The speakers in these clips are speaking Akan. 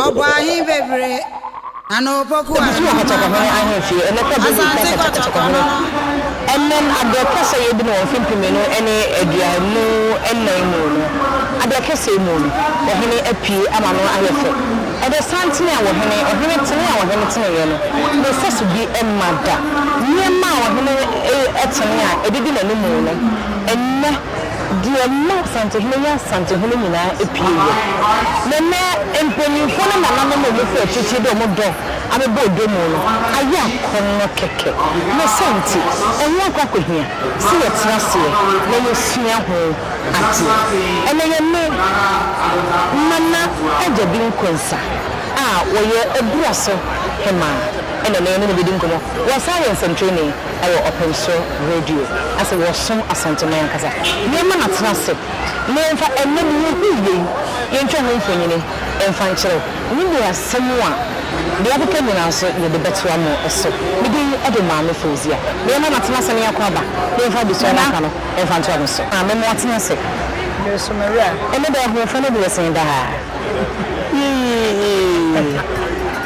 Ɔbɔ ahe bebree na na opoku a ɛno ho akɔnnɔ. Asase kɔtɔkɔ no no ɛnam adeɛ kɛsɛ yɛ bi no wɔ mfe mpemmienu ne aduonu nnan mu no adeɛ kɛsɛ yi mu no ɔhene apue ama no ayɛ fɛ. Ɛdɛ santene a ɔhene ɔhene tene a ɔhene teneeɛ no ne sɛso bi mma da. Nneɛma a ɔhene tene a ɛdidi n'anim no ɛnnɛ. deɛ ɛma Asantehene yɛ Asantehene nyinaa pue yɛ. Na ɛnnɛ mpaninfoɔ ne nananom a wɔfiri akyirikyiri de wɔn dɔ abɛbɔ odwa mu no ayɛ akɔnnɔ kɛkɛ. Ne saa nti, ɛho akɔ akɔhia sɛ yɛtra aseɛ na yɛsua ho adeɛ. Ɛnnɛ yɛ ne Nana Agya Binkonsa a ɔyɛ Aburaso Hemaa na ɛnnɛ yɛne no bɛdi nkɔmmɔ. Wɔasan ayɛ nsɛntrenee. wɔ Ɔpem So Radio ase wɔ Som Asante mu ankasa. Yɛma no atena ase na yɛmfa ɛnnɛ deɛ yɛhunu yei yɛntwa ho mfonini mfa nkyerɛ ne deɛ asɛm a deɛ yɛakeka nyinaa nso yɛde bɛtoa mo so. Me din de Maame Fauzia. Na yɛma no atena ase na yɛakɔ aba na yɛmfa adesua no aka no mfa ntoa mo so. Maame mo atena ase. Bere so Maria. Ɛnnɛ deɛ ahoɔfɛ no deɛ ɛsen daa. Yii!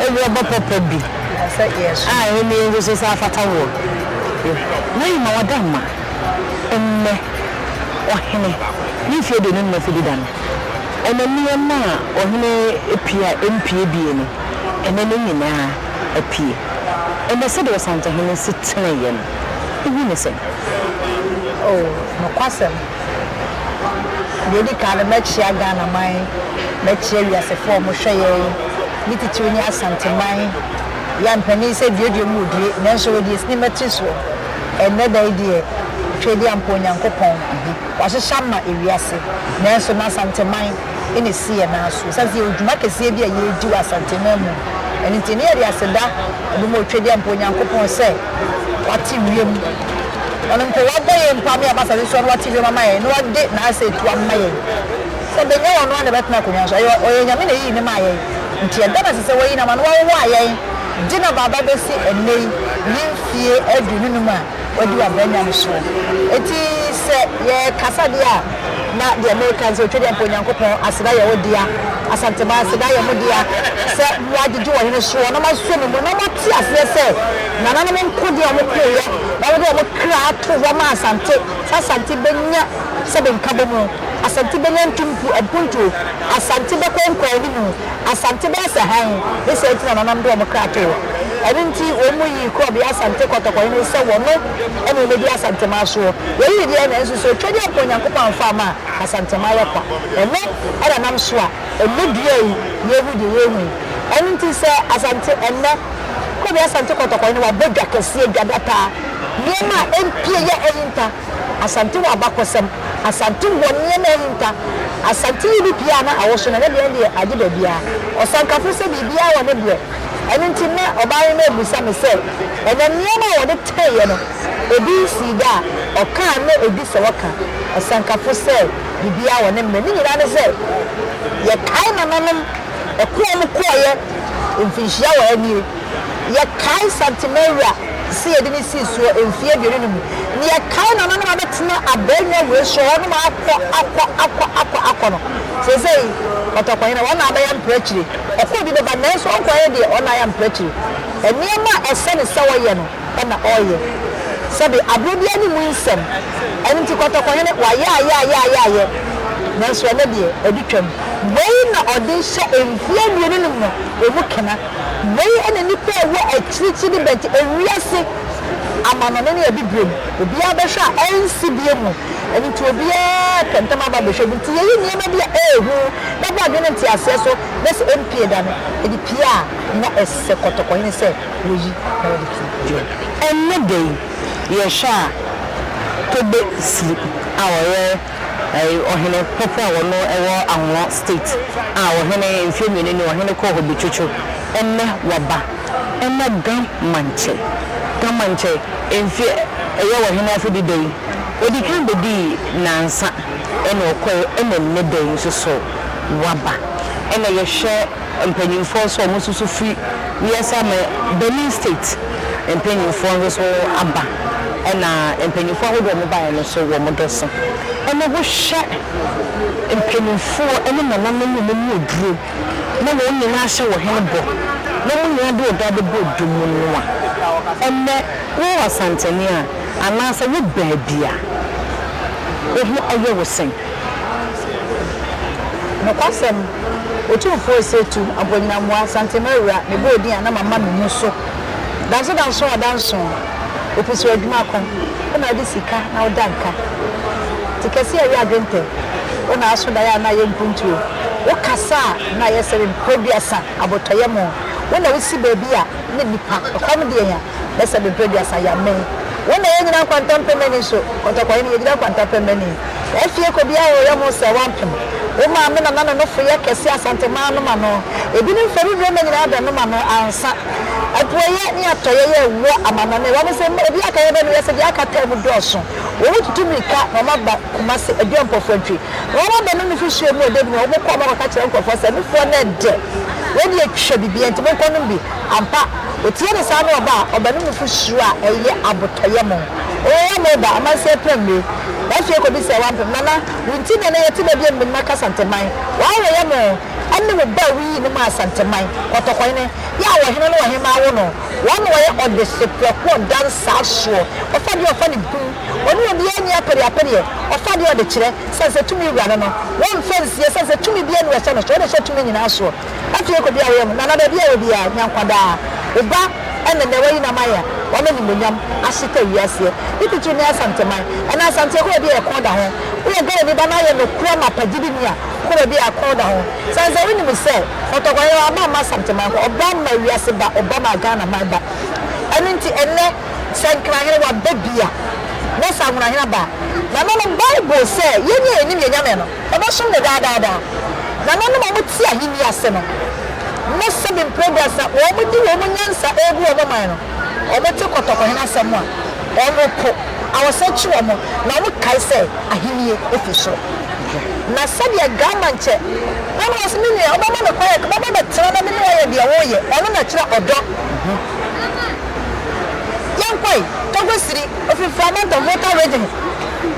Awuraba papa bi. a ɛno ne yɛn nso so sɛ afata woɔ yɛ. Na yɛ ma wada ma nnɛ ɔhene ne mfeɛ aduonu nna fidi da no, ɛna nneɛma a ɔhene pie a ɛmpie bie no, ɛna ne nyina ara apie. Ɛna sɛdeɛ ɔsantahene si teneeɛ no, wohu no sɛn? O nokwasɛm, Deɛ ɛdi kan no, mɛkyea Ghanaman, mɛkyea wiasefoɔ a wɔhwɛ yɛn, ne titire ne Asanteman. Yɛn mpanin sɛ duadua mu wɔdue, nanso wɔadi yɛn sini mmati soɔ. Ɛnnɛ da yi deɛ, Tweedi Ampɔn Nyankopɔn, wahyehyɛ ama ewiase, nanso n'Asanteman na ɛsi yɛn nan so. Ɛsiane sɛ yɛwɔ dwuma kɛseɛ bi a yɛredi wɔ Asanteman mu, ɛno nti, na yɛde aseda bɔ ma Otweedi Ampɔn Nyankopɔn sɛ, Wate wiem. Ɔno mpo, Wabɔ yɛn mpo ama yɛaba asase so no, Wate wiem ama yɛn, na Wade N'asɛ tu ama yɛn. Sɛ bɛnya yɛn, Ɔno ara na ɛbɛtena akonnwa so. Ɛyɛ Ɔyɛ Nyame na ɛyii No maa yɛn, nti ɛda no ase sɛ Wayi No ama No. Wawowaa yɛn, de N'abaaba bɛsi ɛnnɛ yi, ne mfie aduonu num a Wadi W'abranya no soɔ. Enti sɛ yɛrekasa deɛ a. na deɛ mereka nso ɔtwa dɛ mpo Onyankopɔn aseda yɛ wo dea, Asantema aseda yɛ mo dea, sɛ mo agyegye ɔhene soɔ na mo asɔ ne mu na mo ate aseɛ sɛ nananom nko deɛ wɔn koeɛ na wɔde wɔn kra ato hɔ ma Asante, sɛ Asante bɛnya sɛbe nkabomu, Asante bɛnya ntumpu, mpuntuo, Asante bɛkɔ nkɔanimu, Asante bɛyɛ sɛ hann, ne saa nti na nananom de wɔn kra too hɔ. Ɛno nti wɔn yii korɔbea Asante kɔtɔkɔhene sɛ wɔn. ɛne ɔmɛdi asantɛmaa soɔ, yei ne deɛ nanso sɛ ɔtwadeɛ anka Onyankopɔn amfa ama a, asantɛmaa yɛ kwa. Ɛno na nam so a ɛnnɛ dua yi na yɛhu deɛ yɛhu yi. Ɛno nti sɛ Asante ɛnnɛ, kɔbi Asante kɔtɔkɔe no wabɔ dwa kɛseɛ, dwa dataa, nneɛma a ɛmpie yɛ ahinta, Asante wɔ abakɔsɛm, Asante wɔ nneɛma ahinta, Asante yi bi pie a na awoso no ɛnnɛ deɛ no deɛ agye baabiara, Ɔsankafo sɛ biribiara wɔ ne berɛ. Ɛno nti na ɔbaa yi no abisa me sɛ, Ɛnɛ nneɛma a wɔde teeɛ no, ebi nsii da a? Ɔkaa na ɛdi sɛ wɔka, Ɔsɛnkafo, sɛ biribiara wɔ ne mmerɛ. Ne nyinaa ne sɛ, yɛkae nananom ɛko a wɔkɔeɛ mfinhyia wɔ ha nie. Yɛkae Santa Maria sɛ yɛde no sii soɔ mfeɛ aduonu no mu. Na yɛkae nananom a bɛtena Abɛɛnwa Wuraturo hɔ nom akɔ, akɔ, akɔ, akɔ, akɔ no. Seesei, Kɔtɔkɔhene, wɔn na abɛyɛ mprɛ akyire. Ɔkɔɔ bi bɛba nanso ɔnkɔyɛ deɛ ɔnayɛ amprɛkyire. Nneɛma a ɛsɛ no sɛ ɔyɛ no na ɔreyɛ. Sɛbe aberɛ biara ne mu nsɛm. Ɛno nti Kɔtɔkɔhene wayɛ ayɛ ayɛ ayɛ ayɛ nanso ɛnnɛ deɛ adi twam. Wei na ɔde rehyɛ mfeɛ mmienu no mu no mu kena. Wei na nnipa a ɛwɔ akyirikyiri de bɛgye ewiase amanɔne ne abibire mu. Obiara bɛhwɛ a ɛrensi bio mu. Ɛno nti obiara pɛ ntɛm aba abɛhwɛ bi. Nti yɛyi nneɛma bi a ɛyɛ hu. Bɛbɔ adwene no nteaseɛ so na sɛ ɛmpie da no, ɛde pie a, na ɛsɛ kɔtɔkɔhene sɛ wɔyi na wɔde ti dwom. Ɛnnɛ da yi, yɛhwɛ a, Tobe Sili a ɔyɛ ɔhene pɔpɔ a ɔno wɔ Anglo State a ɔhene mfeɛ mmienu ni, ɔhene kɔɔ hɔ bɛtwitwo, ɛnnɛ waba. Ɛna Gamankyɛ, Gamankyɛ mfeɛ, ɛyɛ ɔhene afedida yi, ɔdikan bɛdii nnansa. Ɛna ɔkɔe ɛna nnɛ da yi nso so waba. Ɛna yɛhwɛ mpanyinfoɔ nso a wɔn nso so firi wiase aman, Benin state mpanyinfoɔ nso so aba. Ɛna mpanyinfoɔ ahodoɔ a wɔn baeɛ no nso wɔn dɔ so. Ɛna wohwɛ mpanyinfoɔ ɛne nananom a wɔn mu aduro na wɔn nyinaa ahyɛ wɔ hene bɔ na wɔn nyinaa de ɔdɔ abɛbɔ dɔ mu no a, ɛnɛ wowɔ Asantehene a, Anaasɛ wo baabi a wo ho yɛ wo sɛn? Nokwasɛm, Otumfoɔ Osei Tumm Aboagyenamoah Asantema Awura me bɔɔ din a na mama me mu so Danso danso a danso Opi so adwuma ko Wo na wode sika na woda nka Ti kɛse a ɛyɛ adwentɛ Wo na aso daeɛ a na ayɛ mpuntuo Wo kasa a na ayɛ sɛ mprɛduasa Abotɔyam o Wo na wosi baabi a na nnipa Nokwam deɛ nya bɛsɛ me mprɛduasa ya me wo na yɛnyina nkwanta mpɛmani so kɔtɔkɔhe no yɛgyina nkwanta mpɛmani afie kɔ biaa hɔ yɛho sɛ wampem wo maa me nana no nofo yɛ kɛse asante maa nom ano ebi no mfɛmi berɛ ma nyinaa bɛ nom ano ansa apueyɛ ne atɔyɛ yɛ wɔ amanɔne wɔ me sɛ mma obi aka yɛ bɛ no yɛ sɛ deɛ aka taa mu dɔɔso wɔ mo tutu mirika na wɔn aba kuma se aduɔ mpɔfoɔ ntwi na wɔn abɛ no nufi hyɛ mu ɔdɛ bi na wɔn kɔ wɔn akɔka kyerɛ nkorɔfoɔ sɛ nufoɔ no ɛdɛ wɔ deɛ twa bibia nti mo nkɔ nom bi Ampa, otie ne saa ne ɔba a ɔba ne nufu suro a ɛyɛ abotɔyam. O Amoeba, amansan pira nnue! W'afie kɔbisa wo ampem, Nana, wo nti na ɛnnɛ yɛte baabi a mmɛnima ka Santeman. W'awerɛyam o! Ɛne wo ba a wuyii no maa Santeman, kɔtɔkɔhene, yɛ a ɔhene ne ɔhemmaa wo no. Wɔn na wɔyɛ ɔdeseprɛko a ɔda nsaa soɔ, ɔfa deɛ ɔfa ne bun. Ɔne obiara nni apereapereɛ, ɔfa deɛ ɔde kyerɛ, sane sɛ tumi wura no no. Wɔmfa nsie, sane sɛ tumi biara nni ɔhyɛ no so, ɔde hyɛ tumi nyinaa soɔ. Ɔtue kɔ bia ɔyɛ ho nana baabi a ɔwɔ biaa nya nkwa daa wo ba ɛnɛ nɛ wayi nam ayɛ wɔn animonyam ahyeta wiaseɛ ne titiri ne asanteman ɛnɛ asanteɛ kɔ baabi a ɛkɔn da ho woyɛ Ghanani ba na ayɛ nokorɛ mapa gyidini a kɔ baabi a ɛkɔn da ho sane sɛ wonim sɛ kɔtɔkɔ yɛ ɔba mma asanteman kɔ ɔba mma wiase ba ɔba mma Ghana man ba ɛno nti ɛnɛ sɛ nkrahene waba bia na sɛ anwonahene aba nananom bible sɛ yɛnyɛ yɛnim yɛnyame no. Ɔbɛsom no daa daa daa. Nananom a wɔte Ahenni ase no, ne Seven Progress a wɔde wɔn nyansa regu wɔn man no, wɔte kɔtɔkɔhene asɛm a, wɔpo. Awosan kyi wɔn, na wɔkae sɛ Ahenni fi soro. Na sɛdeɛ Grandman kyɛ, na ɔno ɔse, Me nua, wobɛma me kwan a, ka bɛba bɛtena na me ne wo ayɛ deɛ woreyɛ. Ɔno na kyerɛ ɔdɔ. Yɛnkɔe, Togosiri, Ofifra Mantam, Volta Region.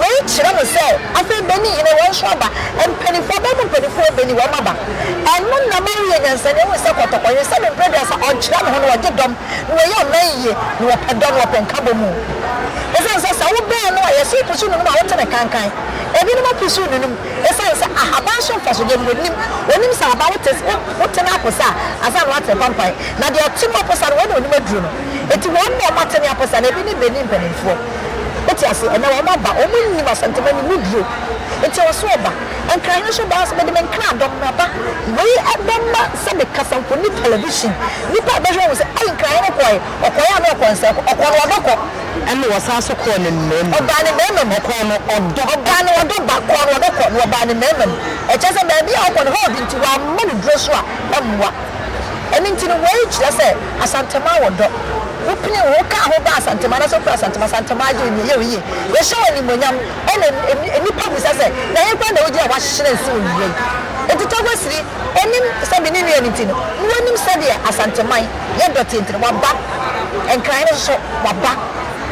Wei kyerɛ mo sɛ afei bɛni yere wɔn nso aba mpaninfoɔ bɛn mu mpaninfoɔ bɛni wɔn aba ɛno na ama woyɛ nyansani ahunu sɛ kɔtɔkɔ yere sɛdeɛ mprɛduasa ɔnkyerɛ ne ho na ɔgye dɔm na ɔyɛ aman yie na ɔpɛ dɔ na ɔpɛ nkabɔmu ɛsiane sɛ sɛ wo bɛn no a yɛse pusu nunum a wote ne kankan ɛbinom apusu nunum ɛsiane sɛ ahaban so mfasodeɛ no wɔnim wɔnim sɛ ahaban wote wote no aposa a ansa na woate apampan na deɛ ɔte mu aposa no wei na ɔnim aduro no ɛti wɔn na wɔn ate ne aposa na ɛbi ne bɛni mpaninfoɔ. Wote ase? Ɛnnɛ wɔaba, wɔnnim asɛntema no mu bio. Enti ɛwɔ sɛ wɔba. Nkra Hene nso baa sɛ, Mede me nkra, dɔm no aba. Wei bɛma sɛ me kasamfoni television, nnipa a ɛbɛhwɛ ahu sɛ, Ei, Nkra Hene kɔe. Ɔkɔe a na ɔkɔ nsɛe kɔ. Ɔkɔ no ɔdɔ kɔ. Ɛnna ɔsan nso kɔɔ ne mmarima mu. Ɔbaa ne mmarima mu. Ɔkɔɔ no ɔdɔ. Ɔbaa no ɔdɔ ba, kɔɔ no ɔdɔ kɔ, na ɔbaa ne mmarima mu. Ɛkyerɛ sɛ baabi a ɔkɔ no, herd nti, wɔamma no duro so a, ɛmmoa. Ɛno nti no, wei kyerɛ sɛ Asantema wɔ dɔ. Wopene wo ho ka ho ba Asantema anaasɛ wofiri Asantema, Asantema agye wo din. Ɛyɛ wo yie. Yɛhyɛ wo animuonyam. Ɛnna nnipa bisa sɛ, Na ɛhe koraa na wogye a wɔahyerɛn so nnua yi? Enti Taguasiri, ɔnim sɛ me ne nua no nti no, na wanim sɛdeɛ Asanteman yɛ dɔteɛ nti no, waba. Nkran no nso so, waba.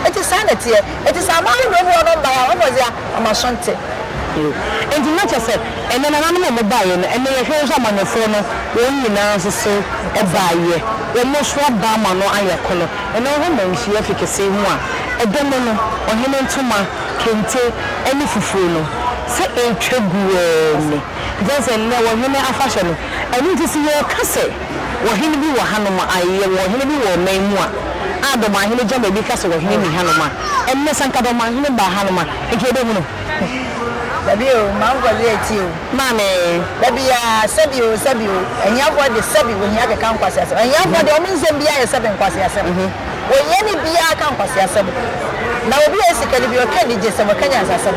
Enti saa na ɛteɛ. Enti sɛ aman no werɛ mu hɔ no mmae a, wɔbɔ dze a, ɔma so nntse. Enti na kyerɛ sɛ, ɛnnɛ nananom a wɔbaeɛ no, ɛnnɛ yɛhwɛ nso amanyɔfoɔ no, wɔn nyinaa nso so baeɛ, wɔn nso aba ama no ayɛ kono. Ɛnnɛ wohwɛ Manhyia fi kesee mu a, ɛdɛ mu no, ɔhene ntoma, kente, ne fufuo no, sɛ ɛretwa gu ara ni. Nti woahu sɛ ɛnnɛ ɔhene afahyɛ no, ɛno nti sɛ yɛreka sɛ, Ɔhene bi wɔ hanom a, ae, yɛwɔ ɔhene bi wɔ ɔman mu a, a Dɔmanhene Gyama bi ka sɛ ɔhene nni hanom a, ɛnnɛ sɛ anka Dɔmanhene baa hanom a, anka yɛbɛhu no. Dabi o, ma nkɔ yɛ akyi o. Maame. Dabi a, sɛbi o, sɛbi o. Ahiafoɔ de, sɛbi, wɔhia keka nkwaseasɛm. Ahiafoɔ deɛ, wɔn nsɛm biara yɛ sɛbi nkwaseasɛm. Wɔhia ne biara ka nkwaseasɛm. Na obi a ɔwɔ sika no bi, ɔka anigyesɛm, ɔka nyansasɛm.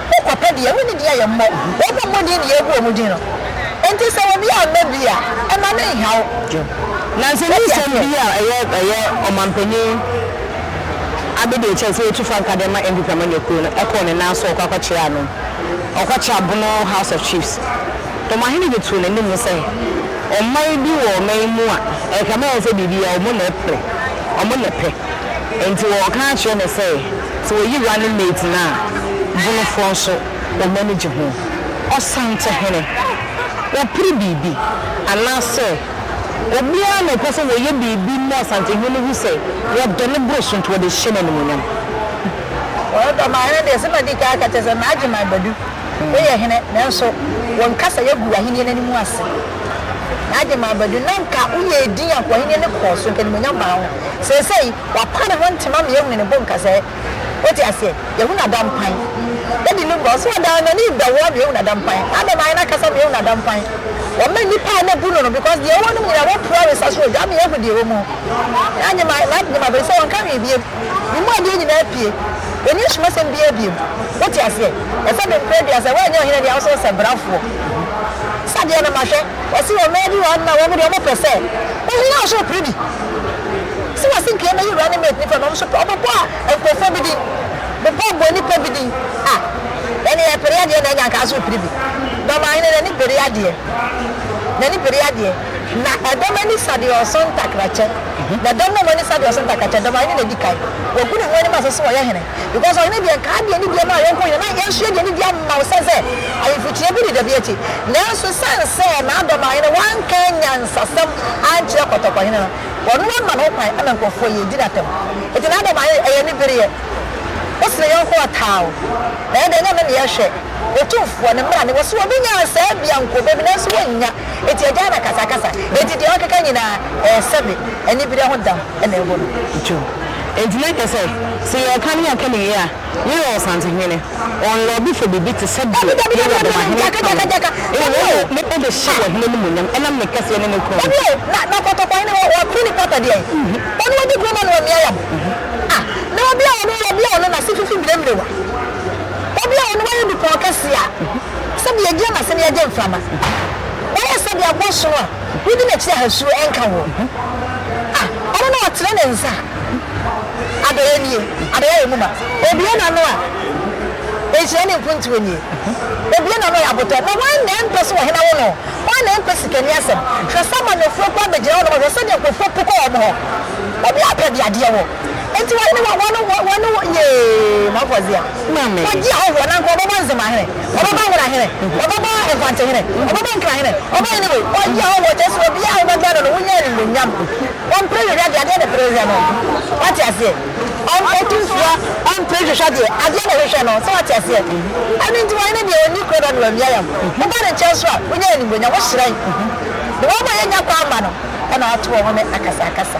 Wo kwapɛ deɛ, wo ne deɛ yɛ mmɔ, wɔn a wɔmmɔ din deɛ yɛgu wɔn din no. Enti sɛ obi amma bi a, mma no nnha wo. Na sɛ nni nsɛm bi a ɛyɛ ɛyɛ ɔmampanyin ade deɛ, kyerɛ sɛ yɛtu fa nka de ma NPP amanyɔkuo no, ɛkɔɔ ne nan so, ɔkɔ akɔkyerɛ ano. Ɔkɔkyerɛ Bono House of Chiefs. Ɔmahene de too n'anim sɛ, ɔman bi wɔ ɔman yi mu a, ɛkame ayɛ sɛ biribiara wɔn na ɛpere, wɔn na ɛpɛ. Enti wɔka akyerɛ no sɛ. Sɛ oyi running mate no a, Bonofoɔ nso wɔn ani gye ho. Ɔsantehene, ɔpere biribi anaasɛ obiara na ɔpɛ sɛ wɔyɛ biribi ma Ɔsantehene no hu sɛ wɔdɔ no boro so nti wɔde hyɛ no animuonyam. Ɔdɔ ma hene deɛ, sɛ madi kan aka kyerɛ sɛ N'Agyeman Badu, woyɛ hene nanso wo nkasa yɛagu w'ahennie no animu ase. N'Agyeman Badu, na nka woyɛ edin anka w'ahennie no kɔɔ so, nka animuonyam baa wo ho. Seesei. Ɔapa ne ho ntem ama yɛahunu ne bo nkasɛɛ. Wote aseɛ? Yɛahunu adampan. Daddy no ba, ɔse ɔdaa n'ani rebɛwoa me, yɛahunu adampan. Adam ayɛ n'akasa ma yɛahunu adampan. Wama nnipa a na bu no no, because deɛ ɛwɔ nom nyinaa wɔpue awe sa so ogya ama yɛahu deɛ ɛwɔ mu. Na nyema, na nyema bɛyi sɛ ɔnka hwee biem. Ne mu adeɛ nyinaa apue. Ɔnni asumasɛm biara biem. Wote aseɛ? Ɛsɛ me mprɛ dua, sɛ woanyɛ ɔhene deɛ, wo so wosɛ brafoɔ. Sa deɛ no ma hwɛ. Ɔse ɔmaa bi wɔ hɔ nom a wɔn deɛ wɔpɛ sɛ, ɔhene a wo so wopere bi. Sɛ wɔse nka yɛmɛyɛ wura ne maid nipa na ɔmo nso pɛ, ɔmo bɔ nkorɔfoɔ bi din, bepɔ bɔ nipa bi din a, ɛne yɛpere adeɛ na ɛnyɛ anka nso repere bi. Dɔmahene n'ani bere adeɛ, n'ani bere adeɛ, na ɛdɔm ani sa deɛ ɔso ntakrakyɛ, na dɔm no ɔmo ani sa deɛ ɔso ntakrakyɛ, Dɔmahene na edi kan, wagu ne ho anim ase sɛ ɔyɛ hene, because ɔhene deɛ nka adeɛ ne deɛ ma yɔnko hene, na yɛn nso yɛde anidie ama wo sɛ sɛ ahemfo kyineɛ bi deda bi akyi, nanso ɛsiane sɛ na Dɔmahene wanka anyansasɛm ankyerɛ kɔtɔkɔhene no, Ɔno ama ho kwan ama nkurɔfoɔ yɛ di no atɛm. Enti n'adɔm a yɛyɛ yɛ anibereɛ. Wo sene yɔnko ɔtaa wo. Na yɛn deɛ Nyame ne yɛhwɛ. Otumfoɔ, ne mmara ne. Wɔse obi nya nsaa bi a nka ɔbɛbi nanso wɔnnya. Enti agyae no akasakasa. Enti deɛ ɔkeka nyinaa ɛyɛ sɛbe anibereɛ ho dam na ɛgu no. Enti na ɛkyerɛ sɛ, sɛ yɛreka ne yɛnka ne yie a, Yɛyɛ Ɔsantehene, ɔnlɔɔbe fɔ biribi te sɛ deɛ Yɛwuranom ahene ka no, mmom ɔde Ne pɛ bɛhyɛ wɔ Hene animuonyam ɛnam Ne kɛseɛ ne Ne kronn nti. Na Nakɔtɔkɔ hene hɔ, wɔato ne pata deɛn? Ɔno adi kuro ma no amia yam a, na obi a ɔno wɔ bia ɔno n'ase fifi biremmerewa, obi a ɔno wayɛ dupɔn kɛseɛ a, sɛdeɛ yɛgyina n'ase na yɛgye mframa, wayɛ sɛdeɛ aboa sono a. Wodi m'akyi a suro renka wo. Ah, ɔno na ɔtene ne nsa a, adɔeɛ nie, adɔeɛ a emu ma. Obue n'ano a, nhyira ne mfuntuo nie. Obue n'ano a, abotɔ. Na hwan na ɛmpɛ sɛ ɔhene wo no? Hwan na ɛmpɛ sikani asɛm? Hwɛ sɛ amanneɛfoɔ kura bɛgyina hɔ nom, hwɛ sɛdeɛ nkurɔfoɔ pu kɔ wɔn hɔ. Obiara pɛ deɛ adeɛ wɔ. Enti wɔn ne wɔn wɔn ne wɔn ne wɔn yee mɔkɔdze a. Maame. Wɔgye ahɔhoɔ na nka ɔbɛbɔ ndzema hene, ɔbɛbɔ nwera hene, ɔbɛbɔ nkwante hene, ɔbɛbɔ nkra hene, ɔbɛyɛ hene wei. Ɔgye ahɔhoɔ kyerɛ sɛ obiara a ɔbɛbɛn no no wonya animuonyam. Ɔmpere hwehwɛ adeɛ, adeɛ na ɛpere hwehwɛ no. Wate aseɛ? Ɔn ɔtu nsuo a, ɔmpere hwehwɛ adeɛ, adeɛ na ɔhwehwɛ no. So wate aseɛ? Ɛno nti ɔhene deɛ ɔnni kuro na wamia yam. Woba ne nkyɛn nso a, wonya animuonyam, wohyerɛn. Deɛ wɔma yɛnya kwan ma no na watoɔ home akasakasa.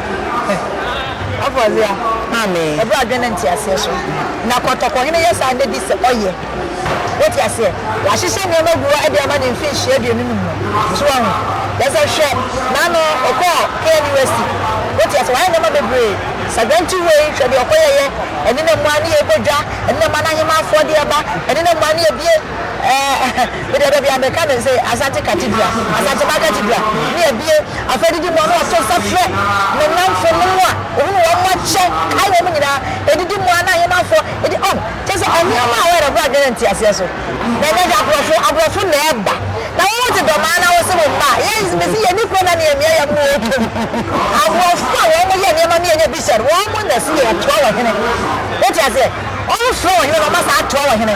Afɔrebɔdeɛ ma me. Ɛberɛ a adwene ne nteaseɛ so. Na kɔtɔkɔhene yɛ saa de di sɛ ɔyɛ. Wote aseɛ? Wahyehyɛ nneɛma agu hɔ de ama no mfinhyia aduonu no mu. So woahu? Kyerɛ sɛ, hwɛ, n'ano, ɔkɔɔ KNUST. Wote aseɛ? Wayɛ nneɛma bebree. Sagyanti wei, hwɛ deɛ ɔkɔyɛeɛ. Ɛne na mua ne yɛbɔ dwa. Ɛne na mua no ahemmaa afɔdeɛ ba. Ɛne na mua ne yɛbue. Medeɛ da biaa meka no se Asante Cathedral, Asantema Cathedral ne abie afei didi moa na wato nsa frɛ me namfo nom a ohunu wɔn mo akyɛ kae wɔn mo nyinaa edidi moa na ahemanfoɔ edi oh kyɛ sɛ nneɛma a wɔyɛ bra dwene nteaseɛ so na ɛnyɛ hwɛ aborɔfo aborɔfo na ɛba na wo gye dɔm ara na wo se wo mma a yɛn me se yɛni kuro na ne yɛmia yɛn mo wɔ kum aborɔfo a wɔn mo yɛ nneɛma ne yɛnyɛ bisa no wɔn mo na ɛse yɛ toa wɔ hene wote aseɛ wɔn mo frɛ wɔ hene na wɔn asa atoa wɔ hene.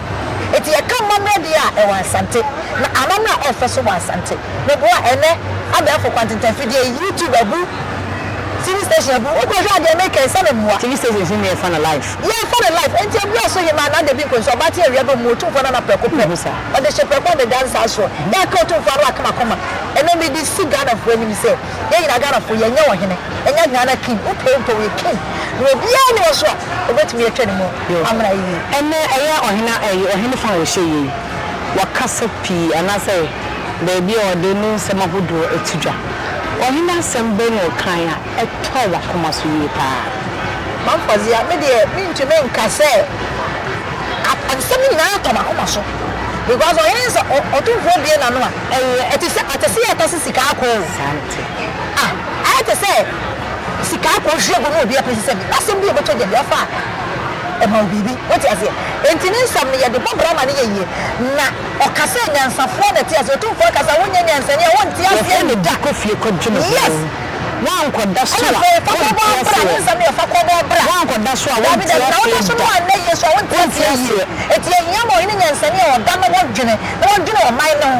Enti yɛka amammerɛ deɛ a, ɛwɔ Asante. Na amammerɛ a ɛfɛ nso wɔ Asante. Meboa ɛnnɛ abɛɛfo kwantentan fidie yi, YouTube abu, TV station abu, wokɔ hwɛ a deɛ meka yi, sɛ me mmoa. TV stations no nyinaa yɛfa no live. Yɛfa no live. Enti ɛberɛ so hemaa na dabi nkɔnsu, abaaten awia bɛ mu, Otumfoɔ no ana prɛko pɛ. Ɔde hye prɛko de da nsa soɔ. Yɛaka Otumfoɔ ano akoma koma. Ɛnnɛ mede si Ghanafoɔ anim sɛ, yɛn nyinaa Ghanafoɔ, yɛnyɛ ɔhene, ɛnyɛ Ghana King, wopɛ wo mpɛ wo, yɛ King. Na obiara nni hɔ nso a, ɔbɛtumi atwa ne mu. Yo. Amena yi ni. Ɛnɛ ɛyɛ ɔhena ɛyi ɔhene fa a ɔhyɛ yei wɔ kasa pii anaasɛ baabi a ɔde ne nsɛm ahodoɔ to dwa. Ɔhene asɛm bɛn na ɔkaeɛ a ɛtɔɔ w'akoma so yie pa ara? Mamfɔdzeɛ, me deɛ mentumi nka sɛ nsɛm no nyinaa tɔ m'akoma so because ɔhene no sɛ ɔtumfoɔ bue n'ano a ɛyɛ ɛte sɛ ɔte se yɛtase sika akɔ o. Saa na ɛte. Ah ayɛ te sɛ. Sika akɔ hwehwɛ gu na obi apɛ sisɛ bi na asɛm bi a ɔbɛtɔ gya bi afa a, ɛma wo biribi. Wote aseɛ? Enti ne nsɛm no, yɛde bɔ bra ma no yɛ yie. Na ɔka sɛ nyansafoɔ na ɛte aseɛ. Otumfoɔ ka sɛ, Wonyɛ nyansani a, wonte aseɛ Wɔfrɛ no da. Kɔ fie kɔdwe ne ho. Yes! Woankɔda so a, Ɛna afei fa kɔbɔ wonte abra. Ne aseɛ. nsɛm no yɛ fa kɔbɔ abra. Woankɔda so a, Dabi, wonte dabi, na aseɛ woda so na da. woanna yie nso a, wonte Wonte aseɛ yie. aseɛ. Enti ɛhia ma ɔhene nyansani a ɔda na wadwene, na wadwene ɔman no ho.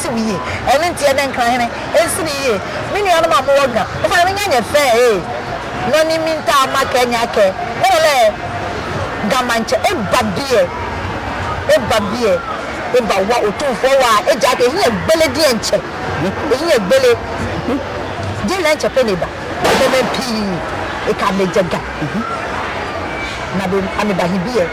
siw yie. Ɛno nti, yɛde nkra hene nsini yie. Me nuanom a mowɔ Gha, mofa na menya nyɛ fɛɛ ee. Nɔ ni mi ntaa ma kɛ nya kɛ me lɔ lɛ Gha ma nkyɛ e ba biɛ e ba biɛ e ba wa Otumfoɔ wa a egya hwɛ ehiɛ gbele deɛ nkyɛ ehiɛ gbele deɛ lɛ nkyɛ pɛ na eba Nɛmɛn pii e ka me gyɛ Gha na be ame ba he biɛ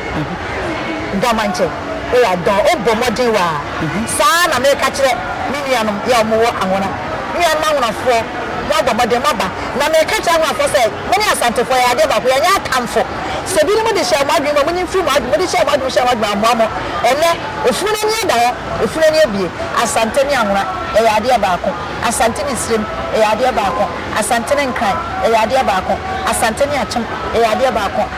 Gha ma nkyɛ. Eya dɔɔ o bɔ mmɔden wa a saa ara na meka kyerɛ me nuanom yɛ a wɔn wɔ Anhona. Nuanom Anhonafoɔ mo abɔ mmɔden mo aba na meka kyerɛ Anhonafoɔ sɛ mo ne Asantefoɔ yɛ yɛ adeɛ baako yɛ nyɛ atamfo. Sɛ binom de hyɛɛ mo adwene mu a mo nyi mfiri mo adwene mo de hyɛɛ mo adwene mu hyɛɛ mo adwene mu ammoa mo ɛnnɛ efunu no ani ada hɔ efunu ani abue Asante ne Anhona yɛ yɛ adeɛ baako Asante ne Sirem yɛ yɛ adeɛ baako Asante ne Nkran yɛ yɛ adeɛ baako Asante ne Akyem yɛ yɛ adeɛ baako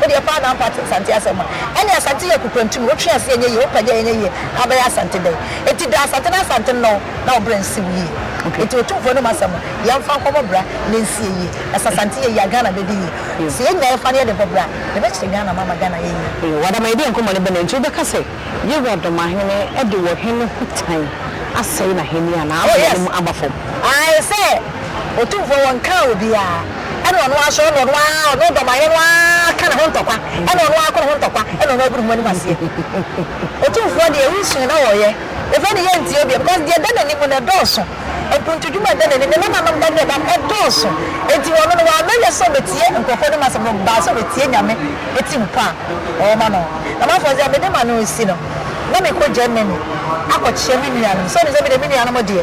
Wo deɛ paa na mpate Asante asɛm a. Ɛne Asante yɛ akukrantum, wo twe ase ɛnyɛ yie, wo pagya ɛnyɛ yie, abɛyɛ Asante dɛn? Enti da Asante na Asante nnɔ wo na wo bra nsi wo yie. Enti Otumfoɔ anom asɛm no, yɛmfa nkɔbɔ bra na ɛnsie yie. Na sɛ Asante yɛ yie a, Ghana bɛdi yie. Sɛ yɛnya yɛfa na yɛde bɔ bra a, yɛbɛkyerɛ Ghana ma ama Ghana ayɛ yie. Wɔ Adamayɛdeɛ nkɔmmɔ no bɛ na enti wobɛka sɛ. Yehowa dɔmahene de wɔ he no ho tan asɛe n'ahenni anaa ama n'anim aba fam? Ae sɛ Otumfoɔ wɔ nkaa obiaa, ɛne ɔno ara so, ɛne ɔno ara, ɔno dɔmahene no ara ka ne ho ntɔkwa, ɛne ɔno ara ko ne ho ntɔkwa, ɛne ɔno ara gu ne ho anim aseɛ. Otumfoɔ deɛ, wo suu na ɔɔyɛ, efei ne yɛntie biom, cos deɛ ɛda n'anim no ɛdɔɔso. Ekuntudwuma bɛn na eni? Ne nananom da deɛ dam ɛdɔɔso, enti wɔn no wɔamɛ yɛ sɛ wɔbetie nkurɔfoɔ nom asɛm, wɔn baa sɛ wɔbetie Nyame eti nkwa a ɔwɔ ma no. Na m'afɔɔ dze a mede ma no esi no, na mekɔ Germany akɔ kyea me nuanom, sɛ ɔnim sɛ mede me nuanom deɛ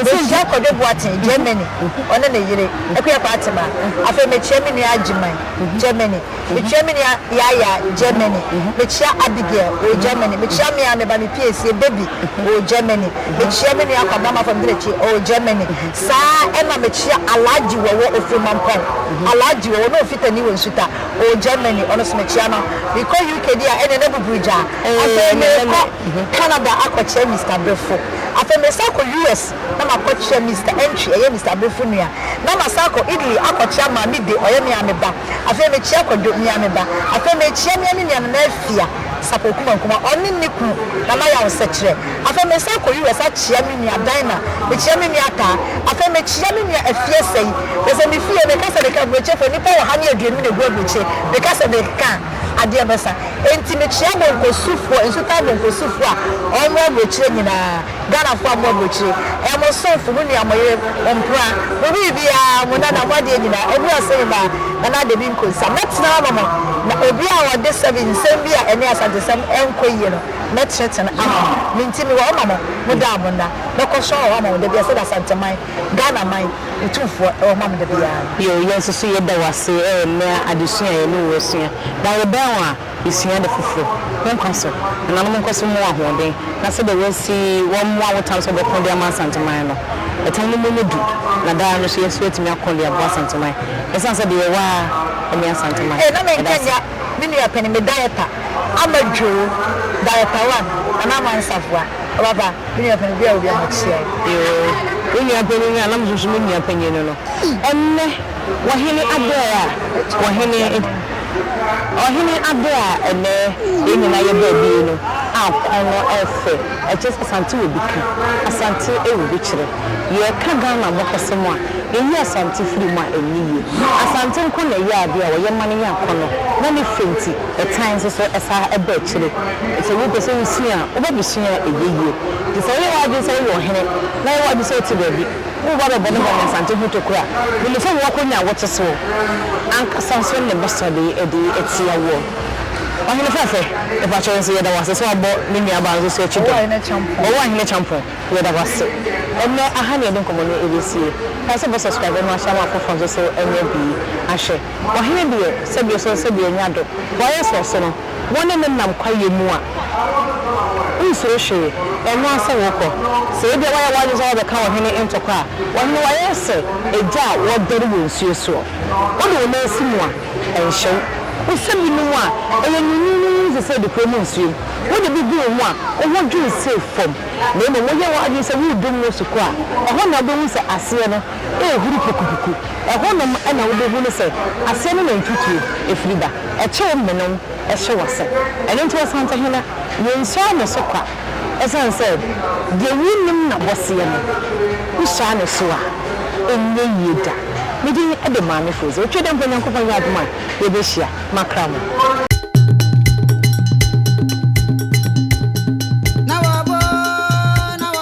mekyea Kwadwo Boateng, Germany, ɔne ne yere, Akua Kwaatemaa, afei mekyea me nua Agyeman, Germany. Mekyia me nua Yaya, Germany. Mekyia Abigail, ɔwɔ Germany. Mekyia me a meba me pie sie baby, ɔwɔ Germany. Mekyia me nua Kwabena Mafam Derekye, ɔwɔ Germany. Saa ara ɛna mekyia Alhaji Wɔwɔ Ofirimampɔn, Alhaji Wɔwɔ na Ofitani wɔ Nsuta, ɔwɔ Germany. Ɔno nso mekyia no. Mekɔ UK deɛ a, ɛnneɛ na buburu gyaa. Afei merekɔ Canada akɔkyia Mister Brefo. Afei meresan akɔ US na makɔkyia Mister Entry, ɛyɛ Mister Brefo nua. Na masan akɔ Italy akɔkyia Maame De, ɔyɛ me a meba. Afei mekyea Kwadwo, me ara me ba. Afei mekyea me ara me nuanom Afia, Sapor Kumankuma, ɔne ne kunu, Nana Yaw Sɛkyerɛ. Afei mesan kɔ US akyea me nua Dinah, mekyea me nua Ataa. Afei mekyea me nua Afia Sɛi. Kyerɛ sɛ me fie, meka sɛ meka Aburokye fo, nnipa ɔha ne aduonum na ɛgu Aburokye, meka sɛ meka a, adeɛ bɛsa. Enti mekyea Bonkosufoɔ, Nsutaa Bonkosufoɔ a wɔwɔ Aburokyire nyinaa. Ghanafoɔ a moaba akyire ɛyɛ mo somfo, mo nua, mo yere, mo mpena, mo biribiara, mo nana, mo adeɛ nyinaa, ɛduru ase nyinaa Nana Adabi Nkonsa mɛtena ama mo na obiara a ɔde sɛbi nsɛm bi a ɛne Asantesɛm ɛnkɔ yie no mɛtenetene ama no, me nti mewɔ hɔ ma mo, mo daa mo nna, mɛkɔ so awɔ hɔ ama mo dabiara sɛdeɛ Asanteman, Ghana man, Otumfoɔ ɛwɔ hɔ ma me dabiara no. Yɛn nso so yɛda wo ase ɛyɛ nnɛ adesua a yɛne wo asua na yɛbɛn wo a. Sua ade foforo. Wo nkwa so. Nananom nkɔ so mmoa ahoɔden na sɛdeɛ wɔasi wɔn mmoa wo tam sɛ wɔbɛko de ama Asanteman no. Ɛtam no mu nyɛ du na daa no nso yɛn nso yɛatumi ako de aboa Asanteman ɛsiane sɛ deɛ yɛwɔ ara ne Asanteman. Ee na me nka nya me nua panin me diaper ama dwoo diaper one anaa ama nsafoa ɔbaba me nua panin obi a wɔ biara makyia wo. Yoo wo nua panin a na me susu me nua panin no no ɛnnɛ. Wɔ hene aberɛ a wɔ hene Ɔhene aberɛ a ɛnnɛ yɛn nyinaa yɛ baabi yi no a kɔn no ɛfɛ ɛkyerɛ sɛ Asante wɔ bi ka Asante wɔ bi kyerɛ yɛ ka Ghana abakɔsɛm a yɛ yi Asante firi mu a ɛnyɛ yie Asante nko na ɛyɛ adeɛ a wɔ yɛ ma no yɛ akɔnɔ na ne fɛ nti ɛtan nso so ɛsa ɛba akyire sɛ wo pɛ sɛ wo sua a wo bɛ bɛ sua a ɛyɛ yie nti sɛ wo yɛ w'adwene sɛ wo yɛ ɔhene na yɛ w'adwene sɛ wo te baabi Wo ba bɛbɔ ne ba nyansante ho tokuro a, wo nim sɛ wo akonnwa a wote so ankasa nso ne bo sɔ de de atia woɔ. Ɔhene fɛɛfɛ, mepakyɛ wo nso yɛda wo ase sɛ woabɔ me nua baa nso so akyi dɛm. Owuahene Kyampong, yɛda wo ase. Ɛnnɛ aha ne yɛde nkɔmmɔ no ɛbɛsie. Kae sɛ bɛ subscribe ma ahyɛ ama afoforɔ nso so anya bi ahwɛ. Ɔhene deɛ, sɛdeɛ ɔsɔ sɛdeɛ ɔnya do. Wayɛ sɛ ɔso no. wɔne no nam kwaeɛ mu a, wonsuro hwee, ɛno ara sɛ worekɔ. Sɛ ebia woayɛ w'adwene sɛ woabɛka ɔhene ntɔkwa a, ɔhene wayɛ sɛ agya a ɔdɛre wɔ nsuo soɔ. Wode wo nan si mu a, ɛnhyɛ wo. Wosɛ binom a, ɛyɛ nyonnyonnyonnyonn te sɛ adekora mu nsuo mu. Wode bi gu wo ho a, wo ho dwonsee fam. Na mmom woyɛ w'adwene sɛ woredu mu wɔ sukɔ a, ɛhɔ na wobɛhu sɛ aseɛ no rehuru pukupuku. Ɛhɔnom na wobɛhunu sɛ aseɛ ne nantwi tuo firi ba. Ɛkyew mene wo, ɛhye w'ase. Ɛno nti Ɔsantehene, yɛnsɔɔ ne so kwa ɛsiane sɛ deɛ wonnim n'abɔseɛ no, wohyia ne so a, ɛnyɛ yie da. Me din de Maame Frozy. Otwa dɛ mpo Nyankopɔn yɛ adom a, yɛbɛhyia. Makra mo.